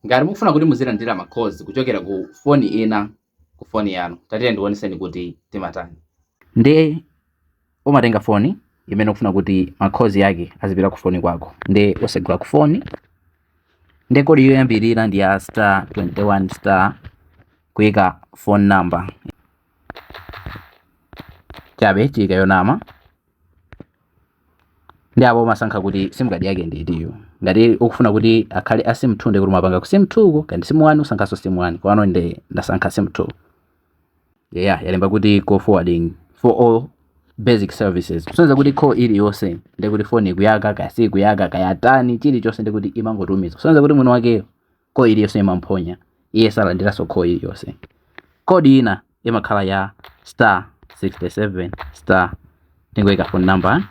Ngati mukufuna kuti muzilandira ma calls kuchokera ku foni ina ku foni yanu, tatiyeni ndikuoneseni kuti timatani. Nde umatenga foni imene ukufuna kuti ma calls ake azipita ku foni kwako, nde usegula ku foni, nde kodi yoyambirira ndi ya star 21 star kuika phone number chabe tiyika yonama, nde apo umasankha kuti sim card yake ndi itiyo ngati ukufuna kuti akhale a sim 2 ndi kuti umapanga ku sim 2 ko kaya ndi sim 1 usankhanso sim 1 pano nde ndasankha sim 2 yeah yalemba kuti call forwarding for all basic services kusonyeza kuti call iliyonse ndi kuti foni ikuyaka kaya si ikuyaka kaya tani chilichonse ndi kuti imangotumiza kusonyeza kuti mwini wakeyo Call iliyonse imamuphonya iye, salandiranso call iliyonse. Code ina imakhala ya star 67 star ndikuyika phone number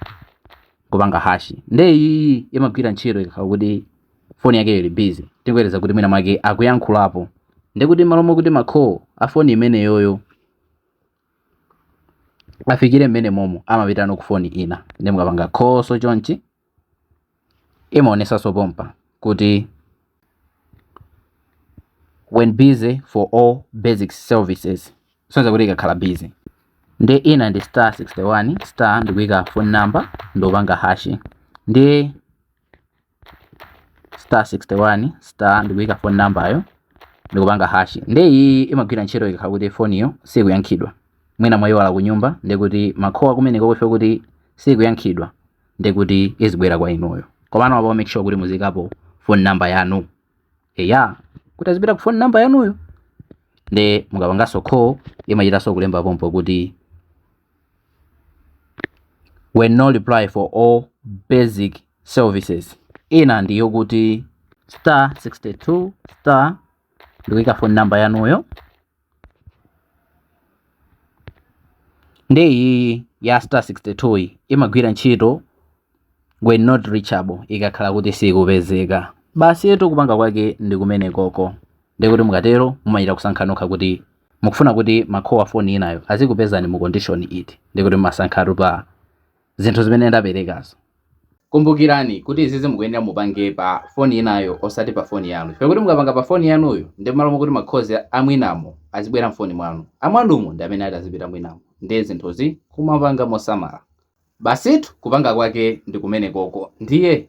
kupanga hash, nde iyi imagwira ntchito ikakhala kuti foni yake ili busy, tingoyerekeza kuti mwina mwake akuyankhulapo, ndi kuti malo mokuti ma call a foni imeneyoyo afikire mmenemomo amapitano ku foni ina, nde mukapanga call so chonchi imaonesanso pompa kuti when busy for all basic services kusonyeza kuti ikakhala busy nde ina ndi star 61 star ndikuika phone number ndikupanga hash nde star 61 star ndikuika phone number yo ndikupanga hash nde iyi imagwira ntchito ikakhala kuti foniyo sikuyankhidwa mwina mwayiwala kunyumba ndikuti ma call akumeneko kwa ife kuti sikuyankhidwa ndi kuti izibwera kwa inuyo komano apo make sure kuti muziyikapo phone number yanu eya kuti azipita ku phone number yanuyo nde mukapanganso call imachitanso kulemba pompo kuti when no reply for all basic services ina ndi yokuti star 62 star ndikuyika phone number yanuyo Nde iyiyi ya star 62 yi imagwira ntchito when not reachable ikakhala kuti sikupezeka basitu kupanga kwake ndi kumenekoko ndekuti mukatero mumachita kusankha nokha kuti mukufuna kuti ma call a foni inayo azikupezani mu condition iti ndekuti mumasankhatu pa zinthu zimene ndaperekazo. Kumbukirani kuti izizi mukuyenera mupange pa foni inayo osati pa foni yanu. Chifukwa kuti mukapanga pa foni yanuyo nde mmalo mokuti ma calls amwinamo azibwera mfoni mwanu, amwanumo ndi amene ati azipita mwinamo. Ndiye zinthuzi kumapanga mosamala. Basitu kupanga kwake ndi kumenekoko ndiye.